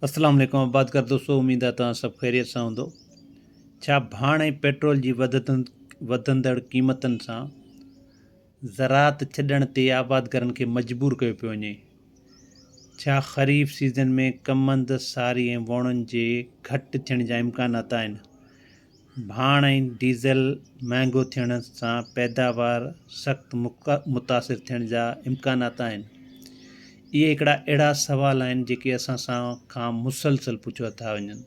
اسلام عليڪم آبادگار دوستو اميد آهي توهان سڀ خيريت سان هوندو ڇا ڀاڻ ۽ پيٽرول جي وڌندڙ قيمتن سان زراعت ڇڏڻ تي آبادگارن کي مجبور ڪيو پيو وڃي ڇا خريف سيزن ۾ ڪمند ساري ۽ ووڻن جي گهٽ ٿيڻ جا امڪانات آهن ڀاڻ ۽ ڊيزل مهانگو ٿيڻ سان پيداوار سخت متاثر ٿيڻ جا امڪانات آهن. اهي هڪڙا اهڙا سوال آهن جيڪي اسان سان کان مسلسل پڇيا ٿا وڃن.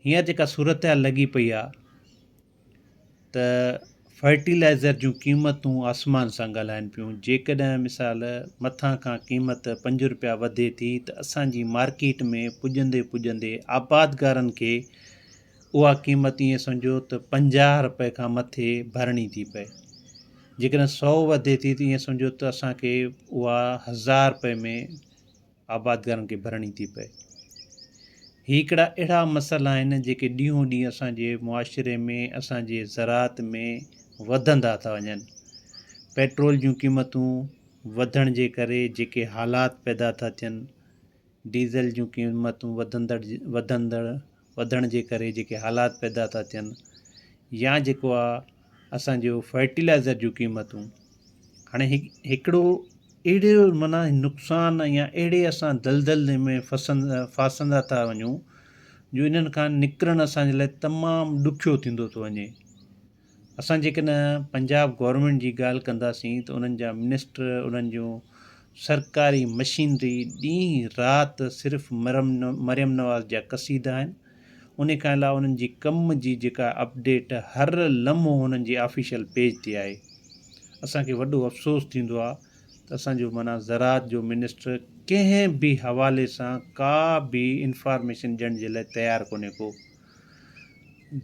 هينئر جيڪا صورتحال لڳي پئي آهي ته فرٽيلائزر جون قيمتون آسمان سان ڳالهائن پيون جيڪڏهن مثال مٿان کان قيمت پنج روپيا وڌي ٿي ته اسان جي مارڪيٽ ۾ پڄندي پڄندي آبادگارن کي اها قيمت ائين سمجهو ته پنجاهه رپئي کان مٿي ڀرڻي ٿي پئي جيڪڏهن سؤ وڌي ٿي ته ائين سمجهو ته اسانکي اها هزار رپئي ۾ آبادگارن کي ڀرڻي ٿي پئي هي هڪڙا اهڙا مسئلا آهن جيڪي ڏينهون ڏينهن اسان جي معاشري ۾ اسان جي زراعت ۾ وڌندا ٿا وڃن پيٽرول جون قيمتون وڌڻ جي ڪري جيڪي حالات پيدا ٿا ٿين ڊيزل جون قيمتون وڌندڙ وڌندڙ وڌڻ جي ڪري جيڪي حالات پيدا ٿا ٿين يا جيڪو آ اسانجو فرٽيلائزر جون قيمتون هاڻي هڪ هڪڙو اهڙو معنيٰ نقصان يا اهڙي اسان دلدل ۾ ڦسن ڦاسندا ٿا وڃون جو انهن کان نڪرڻ اسانجي لاء تمام ڏکيو ٿيندو ٿو وڃي اسان جيڪڏهن پنجاب گورنمينٽ جي ڳالهه ڪنداسين ته انهن جا منسٽر انهن جون سرڪاري مشينري ڏينهن رات صرف مريم نواز جا قصيدا آهن انهي کان علاوه انهن جي ڪم جي جيڪا اپڊيٽ هر لمحو انهن جي آفيشل پيج تي آهي اسان کي وڏو افسوس ٿيندو آهي ته اسان جو معنيٰ زراعت جو منسٽر ڪنهن به حوالي سان ڪا به انفارميشن ڏيڻ جي لاء تيار ڪونهي ڪو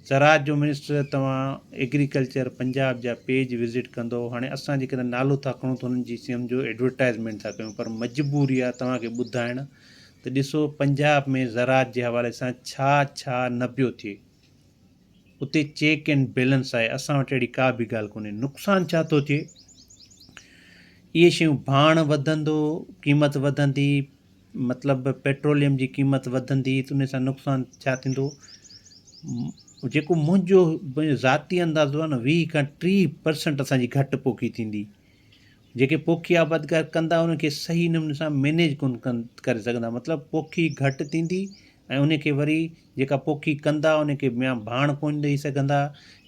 زراعت جو منسٽر توهان ايگريڪلچر پنجاب جا پيج وزٽ ڪندو هاڻي اسان جيڪڏهن نالو ٿا کڻون ته انهن جي سمجهو ايڊورٽائزمينٽ ٿا ڪيون پر مجبوري آهي توهان کي ٻڌائڻ ته ڏسو پنجاب ۾ زراعت جي حوالي سان ڇا ڇا نه پيو ٿئي اتي چيڪ اينڊ بيلنس آهي اسان وٽ اهڙي ڪا به ڳالهه ڪونهي نقصان ڇا ٿو ٿئي اهي شيون ڀاڻ وڌندو قيمت وڌندي مطلب پيٽروليم جي قيمت وڌندي ته ان سان نقصان ڇا ٿيندو جيڪو منهنجو پنهنجو ذاتي اندازو آهي نه ويهه کان ٽيهه پرسنٽ اسانجي گهٽ پوکي ٿيندي جيڪي پوکي آبادگار ڪندا ان کي صحيح نموني سان مينيج ڪون ڪن ڪري سگهندا مطلب پوکي گهٽ ٿيندي ۽ ان کي وري جيڪا پوکي ڪندا ان کي يا ڀاڻ ڪون ڏئي سگهندا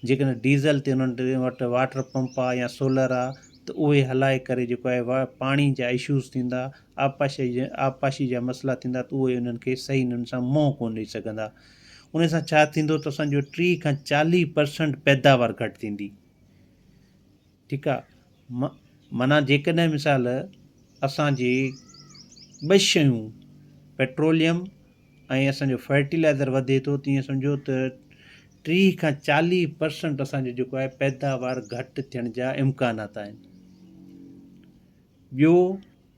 جيڪڏهن ڊيزل تي انهن ٽي وٽ واٽر پمپ آهي يا سولر آهي ته اهي هلائي ڪري جيڪو آهي پاڻي جا اشوز ٿيندا آبپاشي جا مسئلا ٿيندا ته اهي انهن کي صحيح نموني سان منهن ڪونه ڏئي سگهندا. ان سان ڇا ٿيندو ته اسان جو ٽيهه کان چاليهه پرسنٽ پيداوار گهٽ ٿيندي. ٺيڪ آ. معنيٰ جيڪڏهن مثال اسان جي ٻه شيون پيٽروليم ۽ اسان جو فرٽيلائزر وڌي ٿو ته ايئن سمجهو ته ٽيهه کان چاليهه پرسنٽ اسان جو جيڪو آهي پيداوار گهٽ ٿيڻ جا امڪانات آهن. ٻيو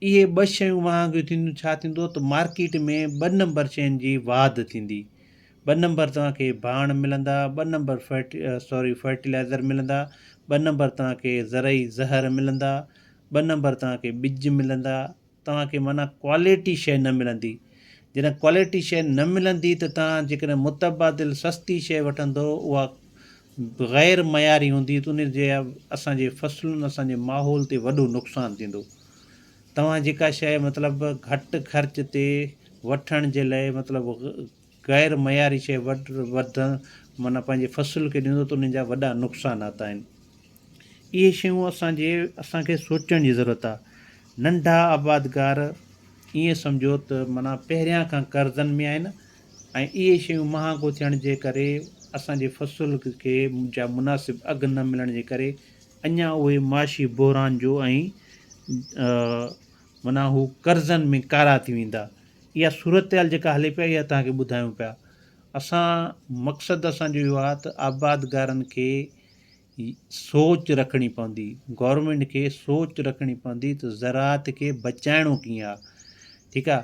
اهي ٻه شيون مهانگيون ٿينديون ڇا ٿيندو ته مارڪيٽ ۾ ٻه نمبر شين جي واڌ ٿيندي ٻه نمبر توهان کي ڀاڻ ملندا ٻه نمبر فرٽ سوري فرٽيلائزر ملندا ٻه نمبر توهان کي زرعي زهر ملندا ٻه نمبر توهان کي ٻج ملندا توهان کي معنيٰ ڪواليٽي شي نه ملندي جڏهن ڪواليٽي شي نه ملندي ته توهان جيڪڏهن متبادل سستي شي وٺندو اها غير معياري هوندي ته ان جي اسان جي فصلن اسان جي ماحول تي وڏو نقصان ٿيندو توهان جيڪا شيء مطلب گهٽ خرچ تي وٺڻ جي لاء مطلب غير معياري شيء وڌڻ معنيٰ پنهنجي فصل کي ڏيندو ته ان جا وڏا نقصانات آهن اهي شيون اسان جي اسان کي سوچڻ جي ضرورت آهي ننڍا آبادگار ائين سمجهو ته معنيٰ پهريان کان قرضن ۾ آهن ۽ اهي شيون مهانگو ٿيڻ جي ڪري اسان جي فصل کي جا مناسب اگهه نه ملڻ جي ڪري اڃان اهي معاشي بحران جو ۽ معنيٰ هو قرضن ۾ ڪارا ٿي ويندا اها صورتحال جيڪا هلي پيا اها تهانکي ٻڌايون پيا اسان مقصد اسانجو اهو آ ته آبادگارن کي سوچ رکڻي پوندي گورنمينٽ کي سوچ رکڻي پوندي ته زراعت کي بچائڻو ڪيئن آ ٺيڪ آ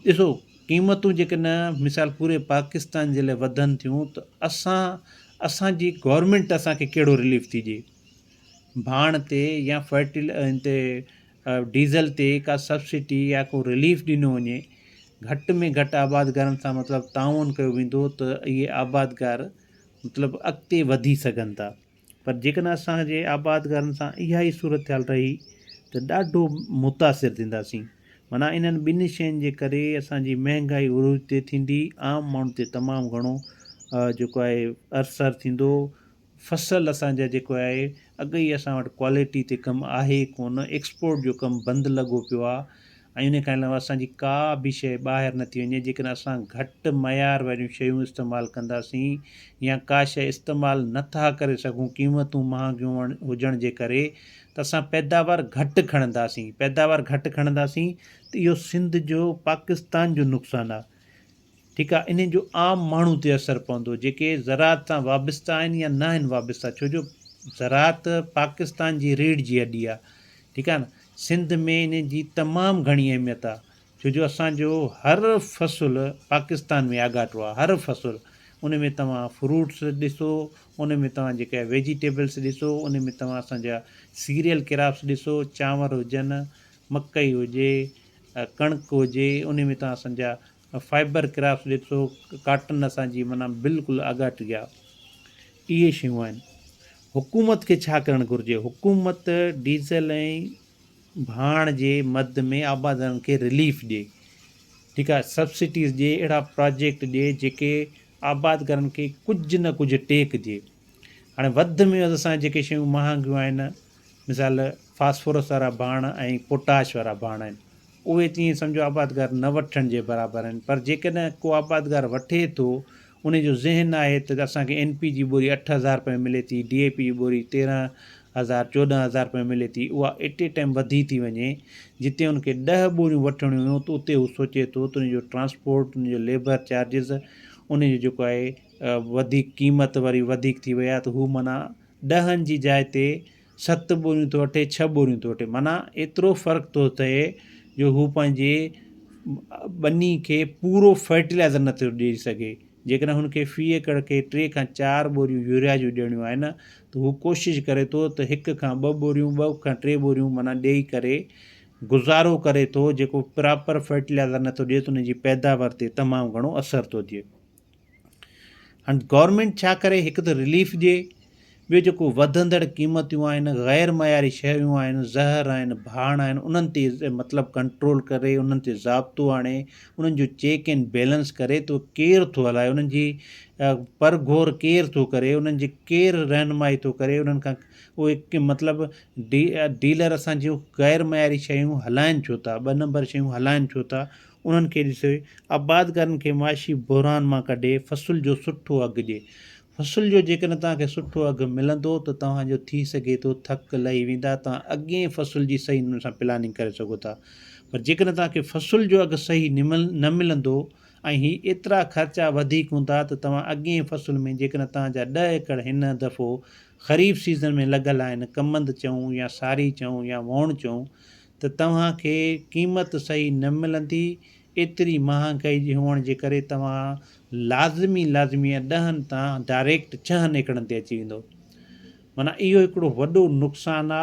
ڏسو قيمتون جيڪڏهن مثال پوري پاڪستان جي لاء وڌن ٿيون ته اسان اسانجي گورنمينٽ اسانکي ڪهڙو رليف ٿي ڏئي ڀاڻ تي يا فرٽي ان تي ڊيزل تي ڪا سبسڊي يا ڪو رليف ڏنو وڃي گهٽ ۾ گهٽ آبادگارن سان مطلب تعاون ڪيو ويندو ته اهي آبادگار مطلب اڳتي وڌي سگهن ٿا پر جيڪڏهن اسان جي آبادگارن سان اها ئي صورتحال رهي ته ڏاڍو متاثر ٿينداسين معنيٰ انهن ٻنهي شين جي ڪري اسان جي مهنگائي عروج تي ٿيندي عام ماڻهن تي تمام گهڻو جيڪو آهي ارثر ٿيندو فصل اسان جا جيڪو آهي اڳ ئي اسان وٽ ڪوالٽي تي ڪم آهي ڪونه ايڪسپورٽ جو ڪم بند لڳو پيو آهي ۽ ان کان علاوه اسان جي ڪا به شيء ٻاهر نه ٿي وڃي جيڪڏهن اسان گهٽ معيار واريون شيون استعمال ڪنداسين يا ڪا شيء استعمال نه ٿا ڪري سگهون قيمتون مهانگيون هجڻ جي ڪري ته اسان پيداوار گهٽ کڻنداسين پيداوار گهٽ کڻنداسين ته اهو سنڌ جو پاڪستان جو نقصان آهي. ٺيڪ آهي انهن جو عام ماڻهو تي اثر پوندو جيڪي زراعت سان وابسته آهن يا نه آهن وابسته ڇو جو زراعت پاڪستان جي ريڙهه جي هڏي آهي ٺيڪ آهي نه سنڌ ۾ انهن جي تمام گهڻي اهميت آهي ڇو جو اسان جو هر فصل پاڪستان ۾ آڳاٽو آهي هر فصل ان ۾ توهان فروٽس ڏسو ان ۾ توهان جيڪا ويجيٽيبلس ڏسو ان ۾ توهان اسان جا سيريل ڪراپس ڏسو چانور هجن مڪئي هجي ڪڻڪ هجي ان ۾ توهان اسان جا فائبر ڪرافٽس ڏي ٿو ڪاٽن اسان جي معنيٰ بلڪل آڳاٽ گيا اهي شيون آهن حڪومت کي ڇا ڪرڻ گهرجي حڪومت ڊيزل ۽ ڀاڻ جي مد ۾ آبادارن کي رليف ڏي ٺيڪ آهي سبسڊيز ڏي اهڙا پراجيڪٽ ڏي جيڪي آبادگارن کي ڪجهه نه ڪجهه ٽيڪ ڏي هاڻي وڌ ۾ وڌ اسان جيڪي شيون مهانگيون آهن مثال فاسفورس وارا ڀاڻ ۽ پوٽاش وارا ڀاڻ آهن اهي ته ائين سمجهو آبادگار نه وٺڻ جي برابر آهن پر جيڪڏهن ڪو آبادگار وٺي ٿو انهي جو ذهن آهي ته اسان کي اين پي جي ٻوري اٺ هزار رپئي ملي ٿي ڊي اي پي جي ٻوري تيرهن هزار چوڏهن هزار رپئي ملي ٿي اها ايٽ اي ٽائيم وڌي ٿي وڃي جتي ان کي ڏهه ٻوريون وٺڻيون هيون ته اتي هو سوچي ٿو ته انهي جو ٽرانسپورٽ انهي جو ليبر چارجز انهي جو جيڪو آهي وڌيڪ قيمت وري وڌيڪ ٿي وئي آهي ته هو معنيٰ ڏهن جي جاء تي ست ٻوريون ٿو وٺي ڇهه ٻوريون ٿو وٺي معنيٰ ايترو فرق ٿو ٿئي جو هو پنهنجي ٻني کي پورو فرٽيلائزر نه ٿو ڏئي سگهي جيڪڏهن هن کي في ايڪڙ کي ٽي کان چار ٻوريون يوريا جون ڏيڻيون آهن ته هو ڪوشش ڪري ٿو ته هڪ کان ٻه ٻوريون ٻه کان ٽي ٻوريون معنيٰ ڏئي ڪري گذارو ڪري ٿو جيڪو پراپر فرٽيلائزر نه ٿو ڏئي ته ان جي پيداوار تي تمام گهڻو اثر ٿو ٿئي هاڻي گورنمينٽ ڇا ڪري هڪ ته رليف ڏي ٻيو جيڪو وڌندڙ قيمتون آهن غير معياري شيون آهن زهر آهن ڀاڻ آهن انهن تي مطلب ڪنٽرول ڪري انهن تي ضابطو آڻي انهن جو چيڪ اينڊ بيلنس ڪري تو ڪير ٿو هلائي انهن جي پر گهور ڪير ٿو ڪري انهن جي ڪير رهنمائي ٿو ڪري انهن کان اهي مطلب ڊي ڊيلر اسان جون غير معياري شيون هلائن ڇو ٿا ٻ نمبر شيون هلائن ڇو ٿا انهن کي ڏسي آبادگارن کي معاشي بحران مان ڪڍي فصل جو سٺو اگهه ڏي. فصل جو جيڪڏهن توهان کي سٺو اگهه ملندو ته توهان جو ٿي سگهي ٿو ٿڪ لهي ويندا توهان اڳئين فصل جي صحيح نموني سان پلاننگ ڪري سگهو ٿا پر جيڪڏهن توهان کي فصل جو اگهه صحيح نه ملندو ۽ هي ايترا خرچا وڌيڪ هوندا ته توهان اڳئين فصل ۾ جيڪڏهن توهان جا ڏهه ايڪڙ هن دفعو خريف سيزن ۾ لڳل آهن ڪمند چئون يا ساري چئون يا وئوڻ چئون ته توهان کي قيمت صحيح نه ملندي، ايتري مهانگائي جي هئڻ جي ڪري توهان لازمي لازمي ڏهن تان ڊائريڪٽ ڇهن ايڪڙن تي اچي ويندو. معنيٰ اهو هڪڙو وڏو نقصان آ،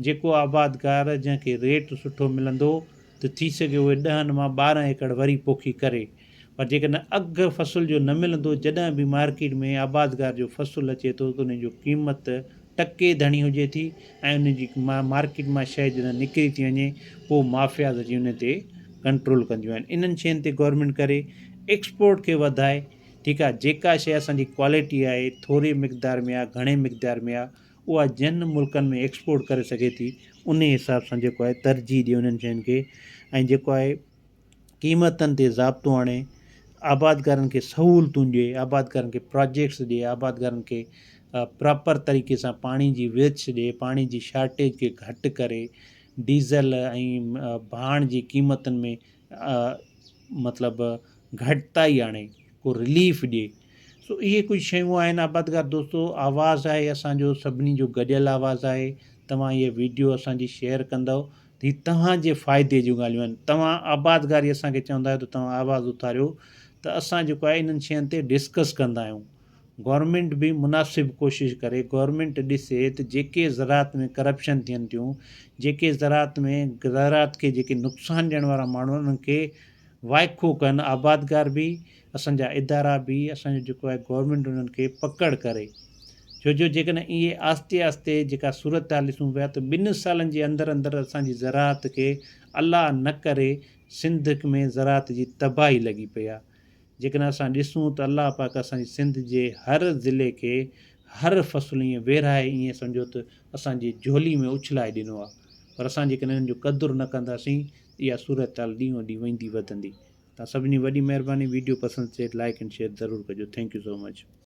جيڪو آبادگار جنهن کي ريٽ سٺو ملندو ته ٿي سگهي اهي ڏهن مان ٻارهن ايڪڙ وري پوکي ڪري. پر جيڪڏهن اگهه فصل جو نه ملندو، جڏهن به مارڪيٽ ۾ آبادگار جو فصل اچي ٿو ته ان جو قيمت ٽڪي ڌڻي هجي ٿي ۽ ان جي مارڪيٽ مان شيء جڏهن نڪري ٿي وڃي پوء مافياز اچي ان تي ڪنٽرول ڪنديون آهن انهن شين تي گورنمينٽ ڪري ايڪسپورٽ کي وڌائي ٺيڪ آهي جيڪا شيء اسان جي ڪوالٽي آهي ٿوري مقدار ۾ آهي گهڻي مقدار ۾ آهي اها جن ملڪن ۾ ايڪسپورٽ ڪري سگهي ٿي انهي حساب سان جيڪو آهي ترجيح ڏي انهن شين کي ۽ جيڪو آهي قيمتن تي ضابطو آڻي آبادگارن کي سهولتون ڏئي، آبادگارن کي پراجيڪٽس ڏئي، آبادگارن کي پراپر طريقي سان پاڻي جي ويڇ ڏئي، پاڻي جي شارٽيج کي گهٽ ڪري، ڊيزل ۽ ڀاڻ جي قيمتن ۾ مطلب گهٽتائي آڻي، ڪو رليف ڏئي، سو اهي ڪجهه شيون آهن آبادگار دوستو آواز آهي اسان جو سڀني جو گڏيل آواز آهي، توهان هي ويڊيو اسان جي شيئر ڪندؤ هي توهان جي فائدي جون ڳالهيون آهن توهان آبادگاري اسان کي چوندا آهيو ته توهان آواز اٿاريو ته اسان جيڪو آهي انهن شين تي ڊسڪس ڪندا آهيون گورنمينٽ به مناسب ڪوشش ڪري گورنمينٽ ڏسي ته جيڪي زراعت ۾ ڪرپشن ٿين ٿيون جيڪي زراعت ۾ زراعت کي جيڪي نقصان ڏيڻ وارا ماڻهو انهن کي وائکو ڪن آبادگار به اسان جا ادارا به اسان جو جيڪو آهي گورنمينٽ انهن کي پڪڙ ڪري ڇو جو جيڪڏهن اهي آهستي آهستي جيڪا صورتحال ڏسون پيا ته ٻن سالن جي اندر اندر اسان جي زراعت کي الله نه ڪري سنڌ ۾ زراعت جي تباهي لڳي پئي آهي جيڪڏهن اسان ڏسون ته الله پاڪ اسان جي سنڌ جي هر ضلعي کي هر فصل ائين ويرهائي ائين سمجهو ته اسان جي جهولي ۾ اڇلائي ڏنو آهي پر اسان جيڪڏهن انهن جو قدر نه ڪنداسين ته اها صورتحال ڏينهون ڏينهن ويندي وڌندي توهان سڀني جي وڏي مهرباني ويڊيو پسند اچي لائيڪ اينڊ شيئر ضرور ڪجو ٿينڪ يو سو مچ.